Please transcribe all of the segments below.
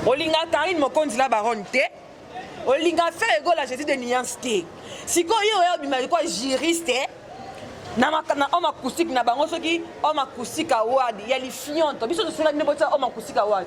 olinga karine mokonzi la baronne te olinga fer egola jésus de nuance te sikoyo yo oya obima likoa juriste na homme acoustique na bango soki homme acoustique award ya lifionto biso tosilaki nde botia homme acoustique award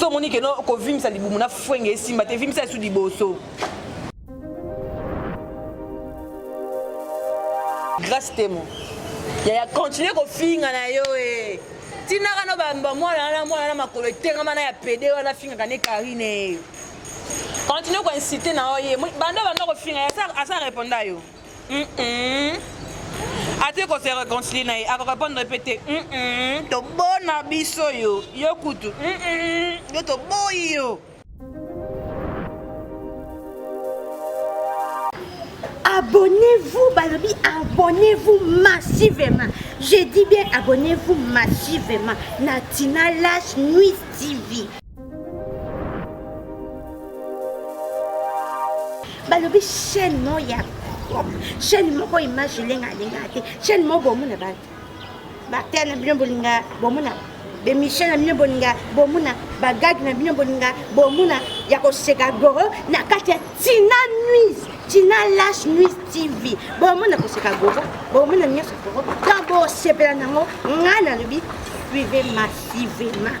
so omoni keno kovimisa libumu na fwenge esimba te vimisa esu liboso grace temo yaya continue kofinga na yo e tinaka no bamba mwana wana mwana na makolo etengama na ya pede wana afingaka ne karine continue koinsite na yo ye banda banda kofinga asa reponda yo ate ko se reconcilie na ye akorepondre mpe te tobona biso yo yo kutu yo toboyi yo abonnez-vous balobi abonnez-vous massivement je dis bien abonnez-vous massivement na tina lash nuit tv balobi chaîne moko ya chaîne moko image elenga alengaka te chaîne moko bomona bana bater na bino bolinga bomona bemission na bino bolinga bomona bagage na bino bolinga bomona ya koseka goro na kati ya tina nuise tina lash nuise tv bomona koseka goro bomona nyonso goro to bosepela nango ngai nalobi suive massivement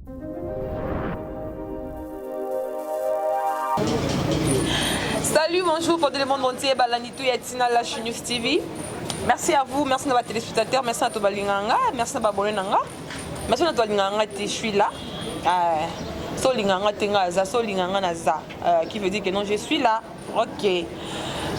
Salut, bonjour, pour le monde entier, Balanitou Yatina, la News TV. Merci à vous, merci à nos téléspectateurs, merci à Tobalinganga, merci à Babolenganga, merci à Tobalinganga, je suis là. Euh, solinganga tenga za solinganga na za euh, qui veut dire que non je suis là Ok.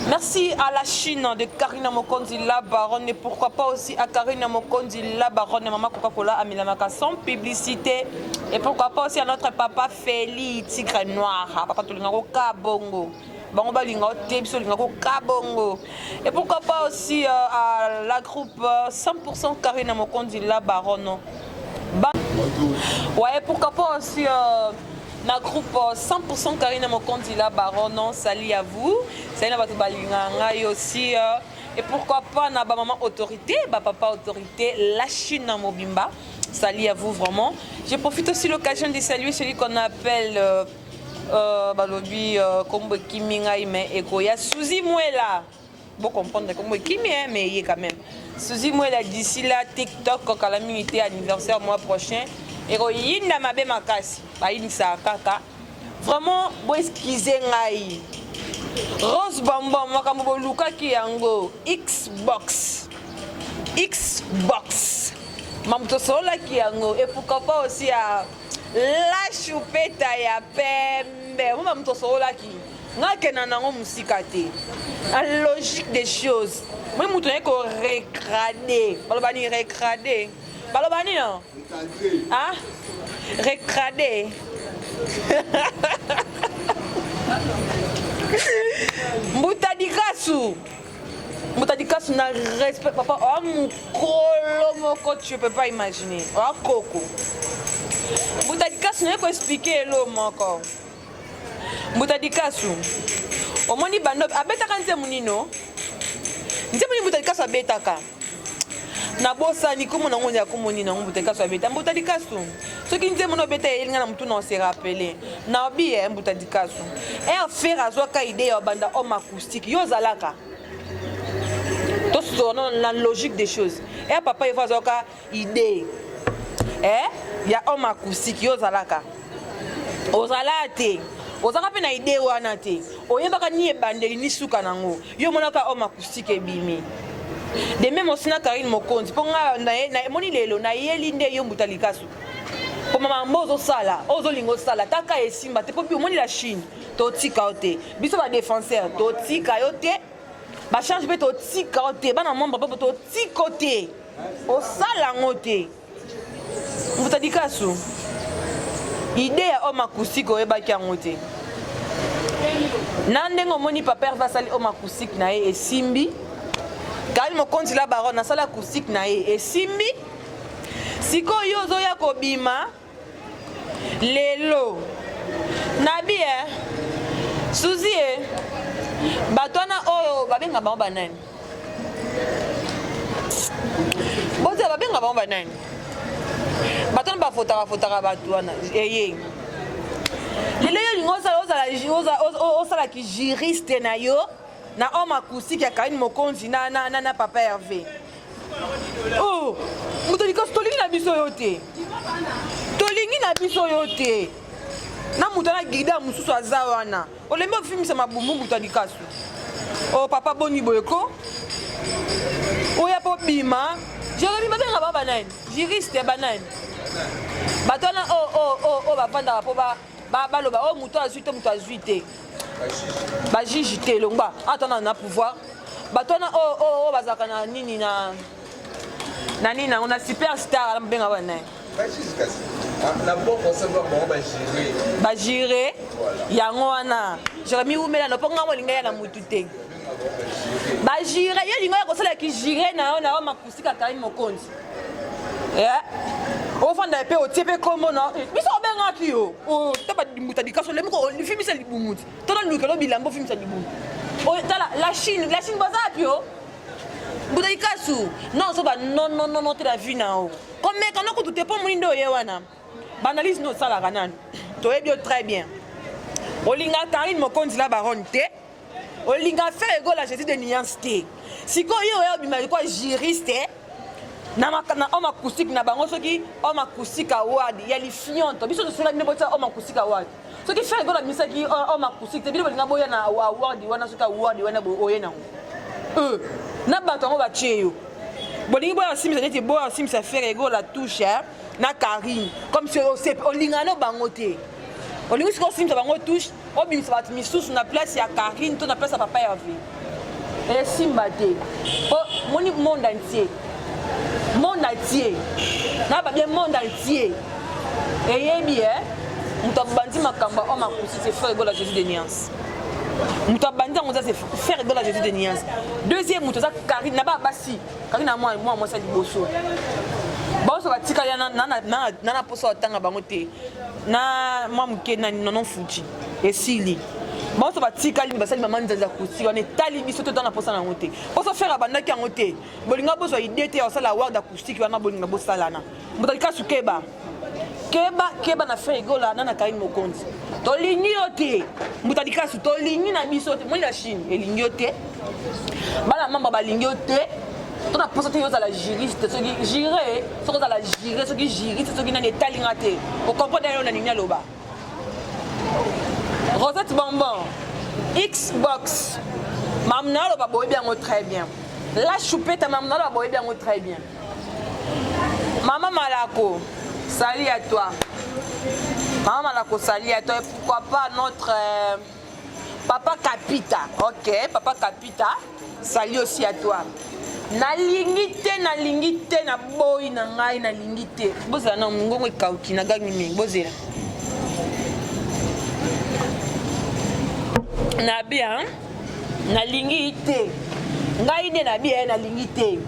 Merci à la Chine de Karina Mokonzi, la baronne, et pourquoi pas aussi à Karina Mokonzi, la baronne, et maman Coca-Cola à Milamaka sans publicité. Et pourquoi pas aussi à notre papa Feli, tigre noir, hein, papa Tolingo Kabongo. bango balinga yo te biso olinga koka bongo et pourquoi pas aussi euh, à la groupe 100% euh, karina mokonzi la baronne ba... ouais pourquoi pas aussi euh, na groupe 100% Karine Mokonzi la baronne on salut à vous salut na bato balingaka ngai aussi euh, et pourquoi pas na ba maman autorité ba papa autorité la Chine na mobimba salut à vous vraiment je profite aussi l'occasion de saluer celui qu'on appelle euh, euh, balobi euh, kombo ekimi ngai mais ekoya Suzy Mwela Bo comprendre comme kimi hein mais ye quand même. Suzy Mwela d'ici là TikTok kala mingi te anniversaire mois prochain et ko yinda mabe makasi. Ba yinisa kaka. Vraiment bo excusez ngai. Rose Bambon makambo bolukaki yango Xbox. Xbox. Mamu tosololaki yango et pourquoi pas aussi à la choupeta ya pembe. Mamu tosololaki. nga kenda nango mosika te a logique des choses moi moto naye ko recrade baloba ni recrade baloba nini a ah? recrade mbuta dikasu mbuta dikasu na respect papa oa mokolo moko tu peux pas imaginer oa koko mbuta dikasu naye ko explike elo moko Mbuta Likasu, omoni bando abetaka nzembo nino? Nzembo nini Mbuta Likasu abetaka? nabosani kombo na yango ya kombo nini yango mbuta likasu abeta mbuta likasu soki nzembo na obeta eyeli ngai na motu na ose rappele na obi e mbuta likasu er fer azwaka idee ya obanda homme acoustique yo ozalaka tosona na logique des choses er papa evo azwaka idee eh ya homme acoustique yo ozalaka ozalaka te ozalaka mpe na idee wana te oyebaka ni ebandeli ni suka nango yo omonaka homme acoustique ebimi de meme osi na karine mokonzi mpo ngai emoni lelo nayeli nde yo mbuta likasu mpo mama mbo ozosala oyo ozolinga osala taka esimba te mpo bi omoni la chine totika yo te biso badefenseur totika yo te bachange mpe totika yo te bana membre mpe totika yo te osala yango te mbuta likasu ide ya homme acoustique oyebaki yango te na ndenge omoni papa herve asali homme acoustique na ye esimbi kali mokonzi la baron asali acoustique na ye esimbi sikoyo yo ozoya kobima lelo nabi eh suzi e eh. bato wana oyo babenga bango banani bozela babenga bango banani bato wana bafotaka fotaka bato wana eye lelo yo olingi osala kijuriste na yo na homme acoustique ya karine mokonzi na, na, na, na papa herve Oh, moto likosi tolingi na biso yo te tolingi na biso yo te na moto na gida mosusu aza wana olembi ofimisa mabumbu moto ya likasu o oh, papa boni boye ko oya mpo bima jeremi babengaka ba banani juriste banani bato wana oyo oh, oh, bafandaka mpo ba baloba oyo oh, moto azwi te moto azwi te bajiji te elongba ata na na pouvoir bato wana oyo oh, oh, oh, bazalaka na nini na na nini nango na super star ala mobenga wana naye bajire yango wana jeremi wumela nopo ngai molinga ya na mutu te bajire yo lingo ya kosala kijire na yo na yo Tika Karine Mokonzi. Yeah. ofanda mpe otie mpe kombo na eh, biso obengaki yo oh, ta badimbuta likaso lemi ofimisa libumuti to na lukelo bilamba ofimisa libumu oh, tala la chine la chine baza wapi yo mbuta likasu non ozoba nonnonono te la vie na yo komeka no kutu te mpo moni nde oye wana baanalyse nde osalaka nani toyebi yo très bien olingaka karine mokonzi la baronne te olinga fere gola jesus de nuance te sikoyo yo oya obima likoa juriste eh? na homme acoustique na bango soki homme acoustique award ya lifionto biso tosengaki nde botia homme acoustique award soki fere gola abimisaki homme acoustique te bino bolinga boya na award wana soki award wana oye nango euh, na bato yango batie yo bolingi boya basimbisa neti boya basimbisa fere gola touche eh? na karine comme olingana bango te olingi sikoyo osimbisa bango touche obimisa bato misusu na place ya carine to na place ya papa herve esimba te po moni monde entier monde entier na babie monde entier eyebi e moto abandi makambo oyo makusi se faire egola jésus de niance moto abandi yango eza se faire egola jésus de niance deuxième moto eza carine na baa basi carine na mwana mwasi ya liboso baoso batikali na na poso atanga bango te na mwa moke na nono fuji esili banso batikali basali mama nzanzi ya kusi wana etali biso to tanga mposa na yango te mposo fere abandaki yango te bolinga bozwa ide te ya kosala ward acoustique wana bolinga bosalana moto alikasu keba keba keba na fere egola na na kaini mokonzi tolingi yo te moto alikasu tolingi na biso te moi la chine elingi yo te bana mamba balingi yo te to na mposa te yo ozala juriste soki jure soki ozala jure soki juriste soki nani etali nga te okomprendre yo na nini aloba rosette bonbon xbox mamu na aloba boyebi yango très bien la choupeta mamu na aloba boyebi yango très bien mama malako sali ya toi mama malako sali ya toi pourquoi pas notre euh, Papa Kapita, ok, Papa Kapita, salut aussi à toi. nalingi te nalingi te na boyi na ngai nalingi te bozala na mongongo ekauki na gangi mingi bozela na bia nalingi te ngai nde na bia nalingi te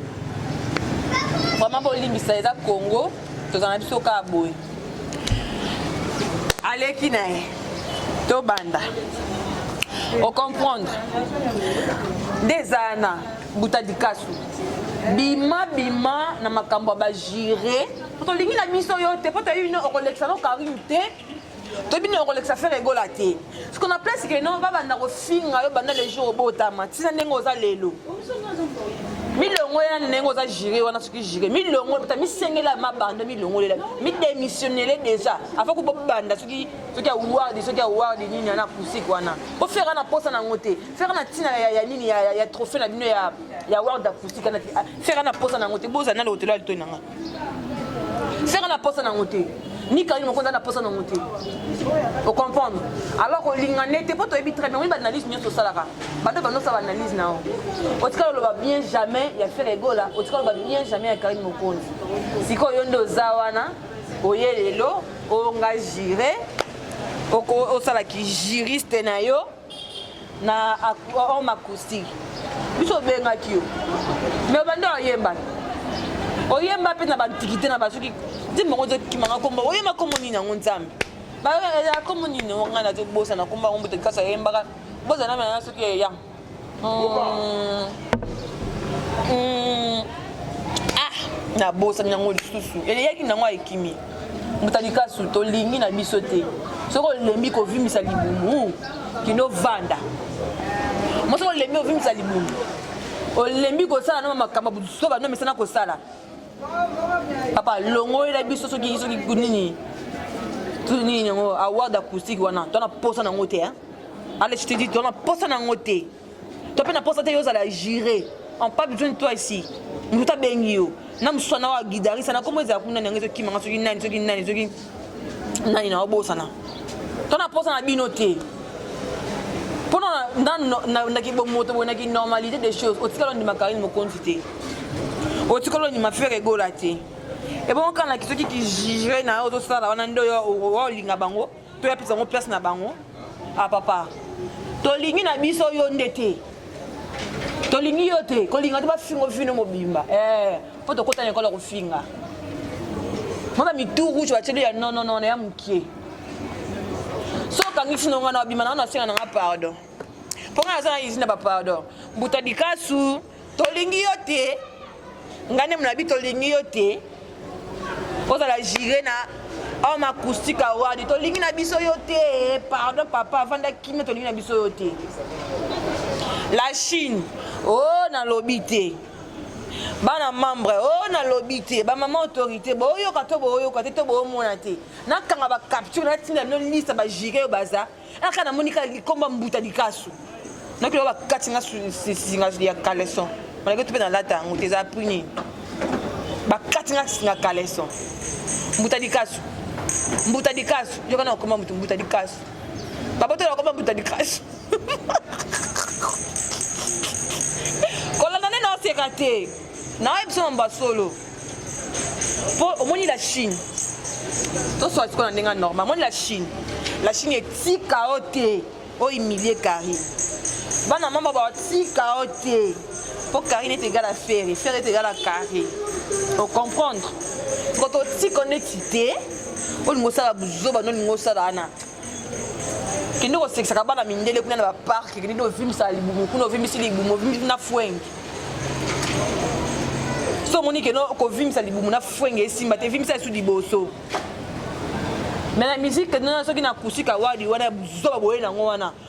vraimen bolimbisa eza congo tozala na biso kaka boye aleki na ye tobanda ocomprendre nde ezala na buta likasu bima bima na makambo ya bajure po tolingi na biso yo te po toyebi no okolekisa no karine te toyebi no okolekisa fere egola te siko na place ke non babanda kofinga yo banda le jour obotama ntina ndenge oza lelo milongolela ndenge oza jure wana soki jure milongola misengela mabando milongolela midemissionnele déjà afa ko bobanda soki soki awardi soki awardi nini ana pusik wana bofera na mposa nango te fera na ntina ya nini ya trophée na bino ya ward acoustique fera na mposa nango te bozala na lotelo ya litoi na ngai Ferre na posa nango te. Ni Karine Mokonda na posa nango te. O comprendre? Alors ko linga nete po toyebi très bien, oui ba analyse nyoso salaka. Bande bando sa ba analyse na o. Otikalo loba bien jamais ya Ferre Gola, otikalo loba bien jamais ya Karine Mokonda. Siko yo nde oza wana, oye lelo, onga jure, osala ki juriste na yo. na homme acoustique biso obengaki yo me obandi oyemba oyemba mpe na bantikite na basoki nzembo yango ezokimanga kombo oyemba kombo nini yango nzambe bayaa eh, kombo nini yango ngai nazobosana kombo yango mbote kasi ayembaka bozana mena soki eya hmm. hmm. ah nabosani yango lisusu eleyaki nango ekimi mbuta likasu tolingi na biso te soki olembi kovimbisa libumu kino vanda mo soki olembi ovimbisa libumu olembi kosala no makambo butusuka bando mesana kosala papa longolela biso soki soki nini nini yango award acoustique wana tona posa nango te ale chitidi tona posa nango te to mpe na mposa te yo ozala jure en pas besoin de toi ici nduta abengi yo na mosusu wana wa gidarisa na nkombo ezala kuna nani yango ezokimanga soki nani soki nani soki nani na obosana to na mposa na bino te mpona na kibomoto boye na kinormalité des choses otikala ondima karine mokonzi te otikala ondima fere egola te ebongo kaka na kisoki kijugre na yo ozosala wana nde olinga bango to ya pesa ngo place na bango ah papa tolingi na biso yo nde te tolingi yo te kolinga te bafingo vino mobimba mpo eh, hey, tokota na ekolo ya kofinga mona mitu rouge batieli ya nonono na ya mokie so okangisi nonga na obima na wana asenga nanga pardon mpo ngai naza na izini na bapardon mbuta likasu tolingi yo te ngai nde molabi tolingi yo te ozala jire na homme acoustique award tolingi na biso yo te pardon papa avanda kimia tolingi na biso yo te la chine o oh, nalobi te bana membre o oh, nalobi te bamama autorité boyoka to boyoka te to boyomona te nakanga bacapture natinda bino lista bajire oyo baza aka namoni kaka likomba mbuta likasu nakilo bakati nga singa ya caleson malaki to mpe nalata yango te eza puni bakati nga singa caleson mbuta likasu mbuta likasu yoka na okoma moto mbuta likasu babotola okoma mbuta likasu kolanda nde naoseka te naoyebisa mambo ya solo po omoni la chine toswa sikoyo na ndenge normal omoni la chine la chine etika o te oimilie carine bana mama batika o te mpo carine ete egala fere fere ete egala carine ocomprendre kototika neti te olingi osala buzoba nolingi osala wana kende kosekisaka bana mindele kuna na baparke kende ovimbisaka libumu kuna ovimbisi libumu ovimbisi na fwenge so omoni keno kovimbisa libumu na fwenge esimba te vimbisa esu liboso me na miziki kende soki na kusika wadi wana zoba boye nango wana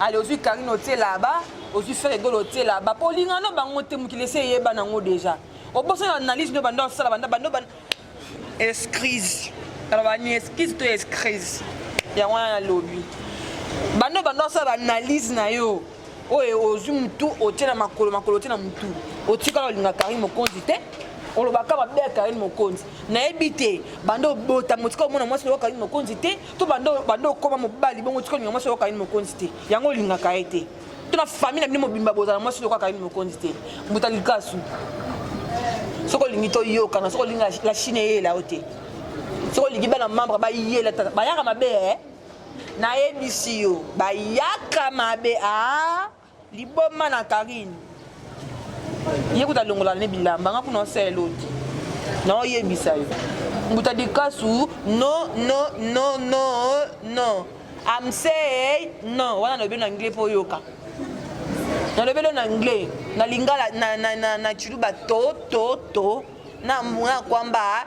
ale ozwi karine otie laba ozwi fere egolo otie laba mpo olingana no bango te mokili esi eyeba nango deja obosana analyse no banda osala banda banda banda escrise aloba ni escrise to escrise yango wana nalobi banda banda osala baanalyse na yo oyo ozwi motu otie na makolo makolo otie na motu otikala olinga karine mokonzi te olobaka mabe ya karine mokonzi nayebi te banda obota motika omona mwasi lokola karine mokonzi te to banda banda okoma mobali bongo tika olinga mwasi oyoka yini mokonzi te yango olingaka ye te to na famille na bino mobimba bozala mwasi oyokaka yini mokonzi te mbuta likasu soki olingi toyokana soki olingi la chine eyela yo te soki olingi bana membre bayela bayaka mabe e eh? nayebisi yo bayaka mabe a ah? Liboma na Karine. Ye kuta longola ne bilamba nga kuna osala eloti. Na oyebisa yo. Mbuta dikasu no no no no no. I'm say no wana lobi na anglais po yoka. Na lobi na anglais na lingala na na na, na chiluba to to to na mwa kwamba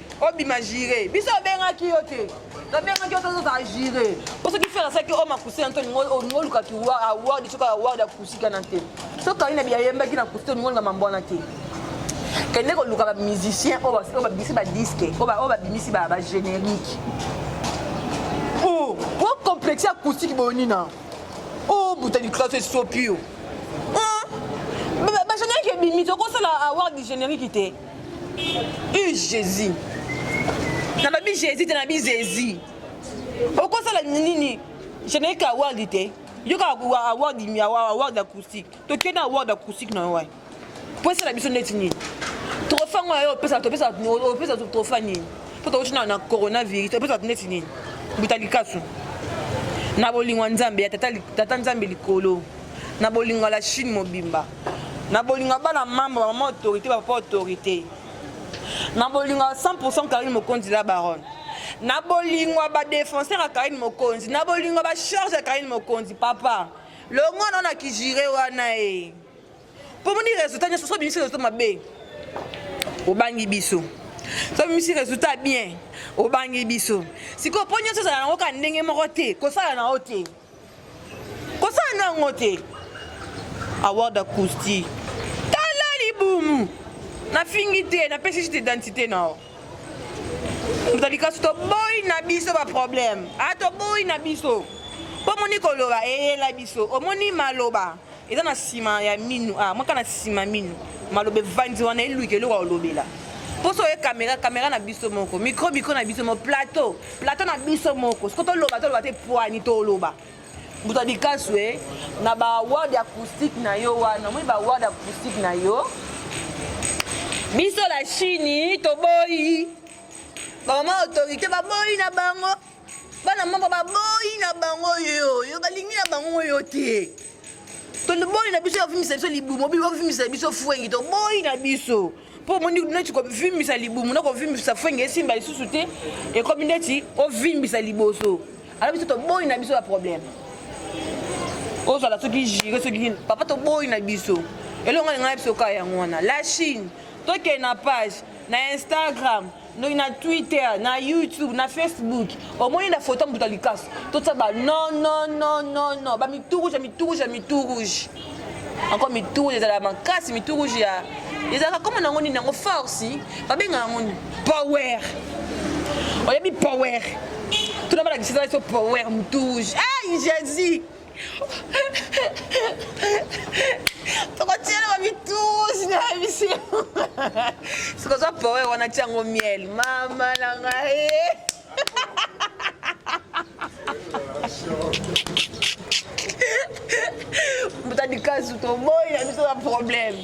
obima jire biso obengaki yo te nabengaki yo tozozala jire po soki fere asaki o makusi na nto olingi olukaki award soki award ya kusi kana te soki kaina biyayembaki na kusi te olingi olinga mambo wana te kende koluka bamusicien oyo babimisi badiske oyo babimisi bagénérique o oh, complexe ya kusiki boni na o oh, buta liklaso esopi yo bagénérique ebimi tokosala award du générique te u jesus na babi jesus te na bi zezi okosala nini générique award te yo kaka award award acoustique tokie na award acoustique na yo mpo esala biso ndeti nini trofa ngo yayo opesa topesa trofa nini mpo tokoti na coronavirus topesa ndeti nini buta likasu na bolingo ya nzambe ya tata nzambe likolo na bolingo ya la chine mobimba na bolingo ya bana mamba bamama autorité bapapa autorité na bolingo ya 100 karine mokonzi la baronne na bolingo ya badefenseur ya karine mokonzi na bolingo ya bacharge ya karine mokonzi papa longo nao na kijire wana e mpo moni résultat nyonso so bimisi résultat mabe obangi biso so bimisi résultat bien obangi biso sikoyo mpo nyonso ezala nango kaka ndenge moko te kosala na yo te kosala na yango te award acoustique tala libumu nafingi te napesi juste identité na yo tozali kasi toboyi na biso baproblème a ah, toboyi na biso mpo omoni koloba eyela biso omoni maloba eza na nsima ya minu ah, mwaka na nsima minu maloba evandi wana eluki eloko olobela mposo oye kamera kamera na biso moko mikro mikro na biso moko plateau plateau na biso moko soko toloba toloba te pwani toloba moto ya likasu e na baward acoustique na yo wana omoni baward acoustique na yo biso la chini toboyi bamama autorité baboyi na bango bana mboka baboyi na bango yo yo balingi na bango yo te toliboli na biso ya vimisa biso libumu obi bavimisa biso fwengi toboyi na biso mpo omoni neti kovimbisa libumu na kovimbisa fwengi esimba lisusu te ekomi neti ovimbisa liboso alo biso toboyi na biso ya problème ozala soki jire soki papa toboyi na biso elongo alinga na biso kaka yango wana la chine tokende na page na instagram donc na twitter na youtube na facebook omoni na foto moto ya likasu totya ba non non non non non ba mitu rouge ya mitu rouge ya mitu rouge encore mitu rouge ezalaka makasi mitu rouge ya ezalaka koma nango nini yango force babengaka yango nini power oyebi power tuna balakisisa biso power mitu rouge ai jesus tokotiela bamitusi na emission sikoza powe wana tiango miel mama na ngai mbuta likasu toboyi na biso na problème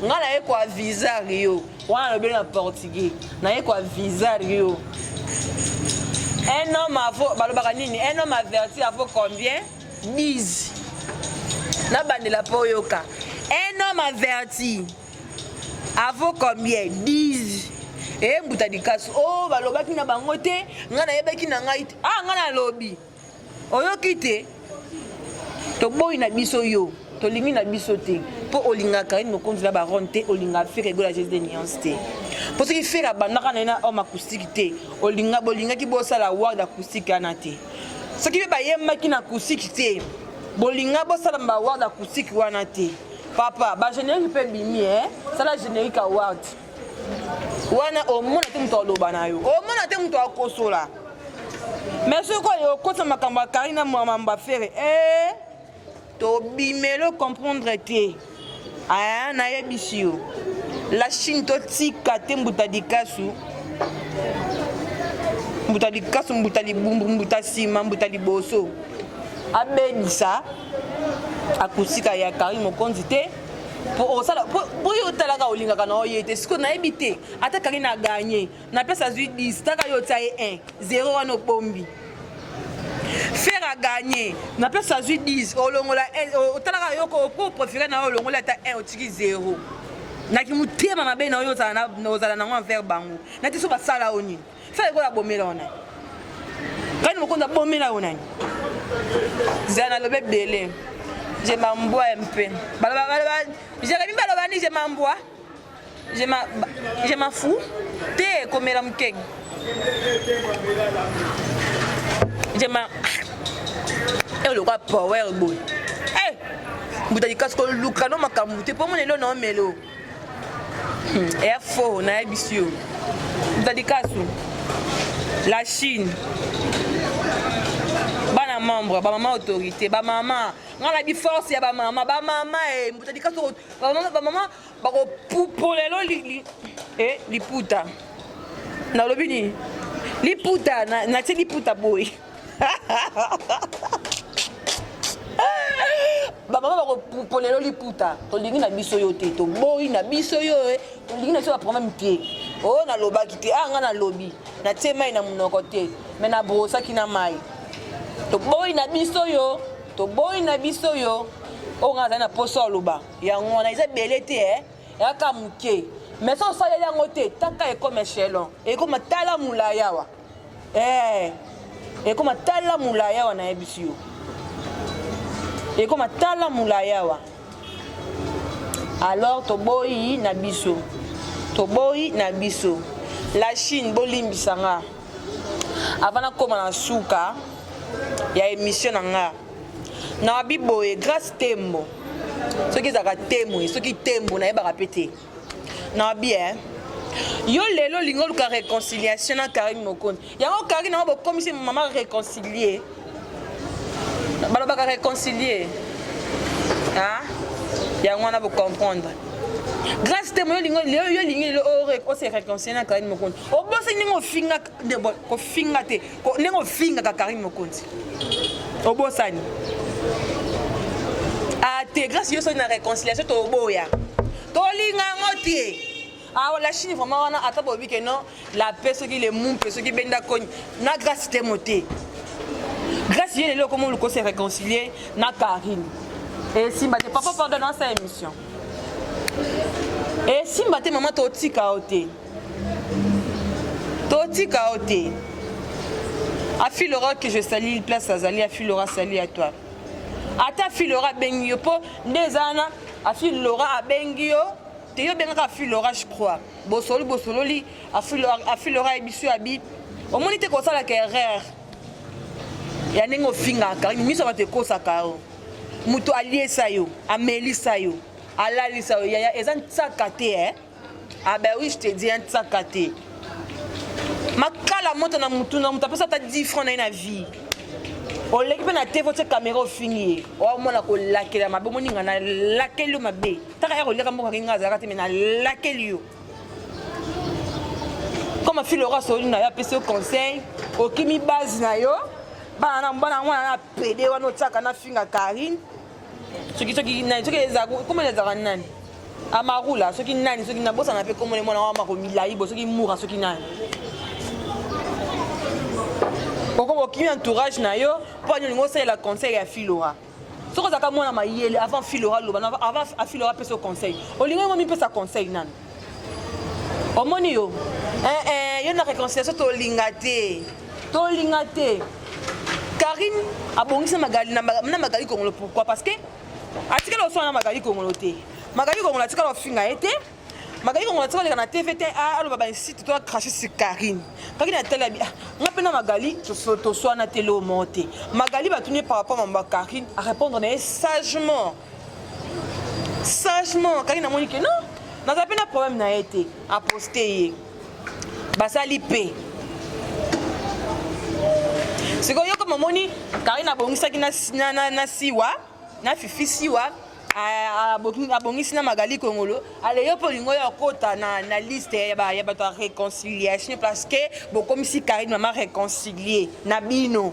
ngai naye koaviza rio wana alobeli na portugais naye kwa visar yo un homme avo balobaka nini un homme averti avo combien 10 nabandela mpo oyoka un homme averti avo combien 10 embuta likasu o oh, balobaki na bango te ngai nayebaki na ngai te ah ngai nalobi oyoki te toboyi na biso yo tolingi na biso te mpo olingaka karine mokonzi na baronne te olingaka fere egola jesus de nuance te mpo soki fere abandaka na ye na homme acoustique te olinga bolingaki bosala ward acoustique wana te soki mpe bayembaki na acoustique te bolinga bosala baward acoustique wana te papa bagénérique mpe bimi e eh? sala générique award wana omona te moto aloba na yo omona te moto akosola mais soki oyo okotisa makambo ya kari na mambo ya fere e eh, tobimelo comprendre te aya nayebisi yo la chine totika te mbuta likasu mbuta likasu mbuta libumbu mbuta nsima mbuta liboso abebisa akusika ya kari mokonzi te po osala po oyo otalaka olingaka na oye te sikoyo nayebi te ata kaki na gagne na pesa azwi 10 taka yo otya ye 1 0 wana obombi fer agagne na pesa azwi 10 olongola otalaka yoko po profere na yo olongola ata 1 otiki 0 na kimotema mabe na oyo ozala nango envers bango nati so basala yo nini Fela ekola bomela yo nani? Kani mokonzi abomela yo nani? Zala na lobe ebele. Je mambwa mpe. Baloba baloba Jeremy baloba ni je mambwa. Je ma je ma fou. Te komela mukeng. Je ma Eyo lokola power boy. Eh! Mbuta likasi koluka no makambo te mpo mona elo na omelo. Hmm, ya faux nayebisi yo dadikasu la chine bana membre bamama autorité bamama nga na biforce ya bamama bamama e mbuta dikasu bamama bamama bakopupola elo eh, liputa nalobi nini liputa natie liputa boye bamama bakopolelo liputa tolingi na biso yo te toboyi na biso yo eh. tolingi na biso baproblème te o oh, nalobaki te a ah, ngai nalobi natie mai na monoko te me nabrosaki na mai toboyi na biso yo toboyi na biso yo oyo ngai azali na mposo aloba yango wana eza ebele te e yaka moke mais so osaleli yango te taka ekoma echelon ekoma tala molai awa eh ekoma tala mulayawa nayebisi yo ekoma tala mulayawa alors toboyi na biso toboyi na biso la chine bolimbisa nga avant nakoma na suka ya émission na nga nawabi boye grace tembo soki ezalaka temwe soki tembo nayebaka mpe te na bien yo lelo olingi oluka réconciliation na karine mokonzi yango karine yango bokomisi mama réconcilie balobaka réconcilie a yango wana bocomprendre grâce te moyo olingi yo olingi lelo ose réconcilie na karine mokonzi obosani ndenge ofinga kofinga te ndenge ofingaka karine mokonzi obosani ategrasi yo soki na réconciliation toboya tolinga yango te awa ah, la chine vraiment wana ata boyebi ke non la paix soki le mumpe soki benda koni na grâce te mo te grâce ye lelo okomi oluko se réconcilier na karine esimba te papa pardon na sa émission esimba te mama totika yo te totika yo te afilora que je sali place azali afilora sali ya toi ata afilora abengi yo mpo nde eza wana afilora abengi yo te yo obengaka afilora je crois bosoli bosololi afilora ayebiso ya bi omoni te kosalaka erreur ya ndenge ofingaka miso ya bato ekosaka yo moto aliesa yo amelisa yo alalisa yo yaya eza nsaka te eh? Ah ben oui, je te dis un tsakate. Makala moto na mutu na mutu apesa ata 10 francs na ye na vie. oleki mpe na te votie kamera ofingi ye omona kolakela mabe omoni nga nalakeli yo mabe taka ya koliaka mboka kinga azalaka te me nalakeli yo comme afilora solina yo apesi yo conseil okimi base na yo bana na bana mwana na pede wana otiaka na finga karine soki soki nani soki komona ezalaka nani amarula soki nani soki nabosana mpe komona mwana wa mako milai bo soki mura soki nani okoko okimi entourage na yo mpo ani olingi osalela conseil ya filora soki ozalaka mwana mayele avant filora loba avant afilora apesa conseil olingi yango mipesa conseil nani omoni yo eh, eh, yo na réconciliation tolinga te tolinga te karine abongisi na magali kongolo pourquoi parce que atikala oswana na magali kongolo te magali kongolo atikala ofinga ye te magali kongolo atikala oleka na tv te ah, aloba bainsite to acrache sur karine karine atali abi ah, nga mpe na magali toswana te loo moko te magali batuni ye par rapport mambo ya karine arépondre na ye sagement sagement kaki namoni ke non naza mpe na problème na ye te aposte ye basali mpe sikoyo yo kama omoni karine abongisaki na, na, na, na siwa na fifi siwa abongisi na magali kongolo aleyo mpo olingo ya okota na, na liste ya bato ya réconciliation parce que bokomisi karine mama réconcilie na bino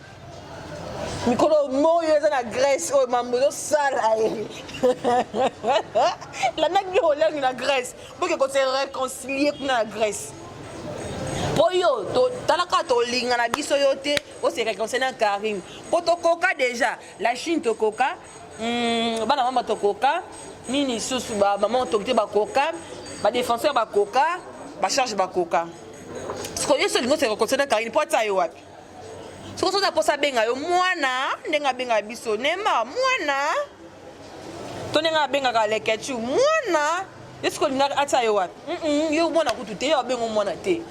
mikolo moyo eza na grèce oyo mambo ezosala ye landaki biloko olangi na grèce boke kose réconcilie kuna na grèce mpo yo talaka tolinga na biso yo te ose réconcilie na carine mpo tokoka déjà la chine tokoka hmm, bana mama tokoka nini lisusu bamama autorité bakoka badéfenseur bakoka bacharge bakoka sikoyo yo so olingi ose réconcilie na carine mpo atia yo wapi soki oza mposa abenga yo mwana ndenge abenga biso nema mwana to ndenge abengaka lekechu mwana yo soki olingaka atia yo wapi yo mwana kutu te yo abengo mwana te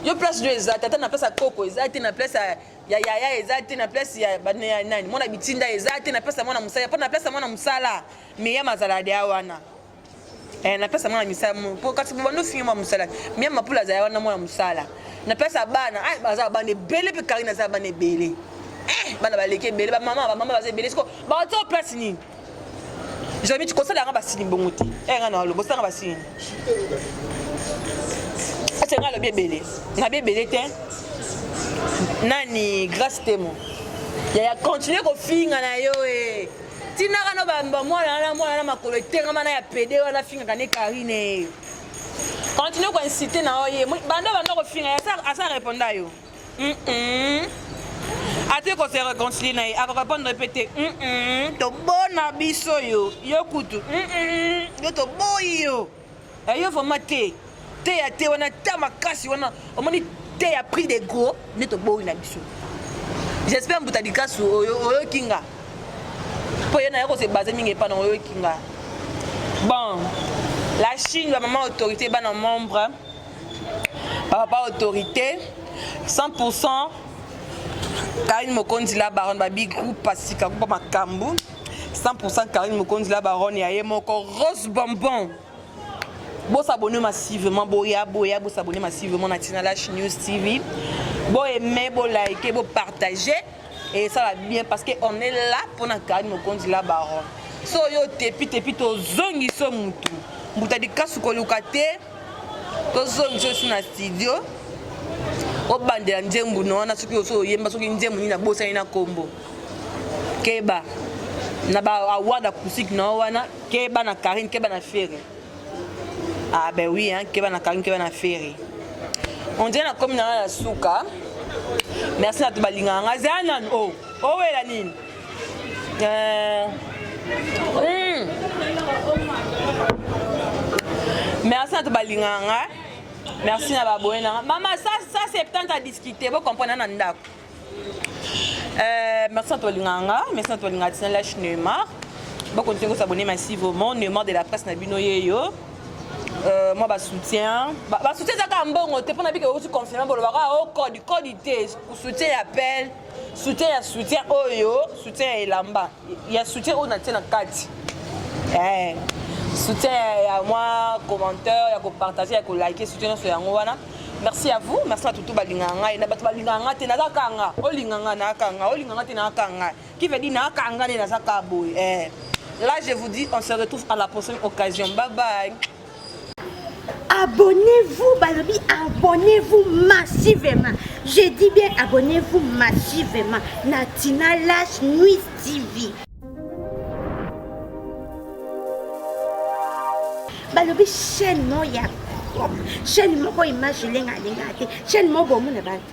yo place nio eza tata na place ya koko eza te na place ya ya yaya eza te na place ya bane ya nani mwana bitinda eza te na place ya mwana mosala mpo na place ya mwana mosala meyama azala deya wana Eh, napesa mwana misala po kasi bobanda ofingi mwa mosala mia mapula azala wana mwana mosala napesa bana ah, baza bana ebele mpe karine aza bana ebele eh, bana baleki ebele bamama bamama baza ebele siko baotia place nini jamiti kosala yanga basini bongo te eh, nga na oloba osalanga basini ate nga alobi ebele nabi ebele te nani grace temo yaya continue kofinga na yo e eh. tinaka no bamba mwana wana mwana na makolo etengama na ya pede wana afingaka ne karine continue koinsite na oye banda banda kofinga asa reponda yo ate ko se reconcilie na ye akorepondre mpe te tobona biso yo yo kutu yo toboyi yo Eh, yo vraiment te te ya te wana ta makasi wana omoni te ya prix de gros nde toboyi na biso j'espère mbuta likasu oyoki nga mpo ye naye kose base mingi epa na oyoki nga bon la chine bamama autorité bana membre bapapa autorité 100 pourcent karine mokonzi la baronne babigroupe pasika kupa makambo 100% Karine Mokonzi la baronne ya ye moko Rose Bonbon bosabone massivement boya boya bosabone massivement na Tina Lash News TV boaime bolike bopartage et ça va bien parce que on est là pour na Karine Mokonzi la baronne so yo tepi tepi tozongi so mutu mbuta likasu koluka te tozongi so si na studio obandela nzembo na wana soki oso oyemba soki nzembo nini nabosani na kombo keba na ba award acoustique na yo wana keba na Karine keba na Ferre ah ben oui hein keba na Karine keba na Ferre on dirait na komi na nga na suka merci na to balingaka nga zala nanu o oh, owela oh, nini euh, hmm. merci na to balingaka nga merci na baboye na nga mama sa sa septante a discuter bo comprendre na ndako Euh, merci na tolingaka nga merci na tolingaka tina lash neymar bakontinue kosabone massivement neymar de la presse na bino yeyo euh, mwa basoutien basoutien ezaka mbongo te mpo na bike outi confirme bolobaka o oh, code code te soutien ya pele soutien ya soutien oyo soutien ya elamba ya soutien oyo natie na kati eh, soutien ya mwa commentaire ya kopartage ya kolike soutien nyonso yango wana merci à vous merci na tutu balingaka ngai na bato balingaka ngai te naza kaka nga olinga nga naa kaka nga olinga nga te naa kaka ngai qui veut dire naa kaka ngai nde naza kaka boye eh. là je vous dis on se retrouve à la prochaine occasion bye bye abonnez-vous balobi abonnez-vous massivement je dis bien abonnez-vous massivement na tina lash nuit tv balobi chaîne moko ya chaîne moko image elengalenga te chaîne moko bomona bantu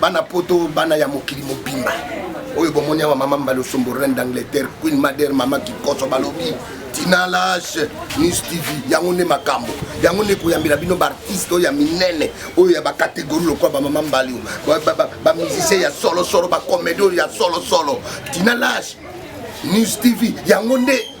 bana poto bana ya mokili mobimba oyo bomoni awa mama mbalosombo reine d'angleterre queen madere mama kikoso balobi tina lage news tv yango nde makambo yango nde koyambela bino baartiste oyo ya minene oyo ya bakategori lokola bamama mbali bamusicien ya solosolo bakomedi oyo ya solosolo tina lage news tv yango nde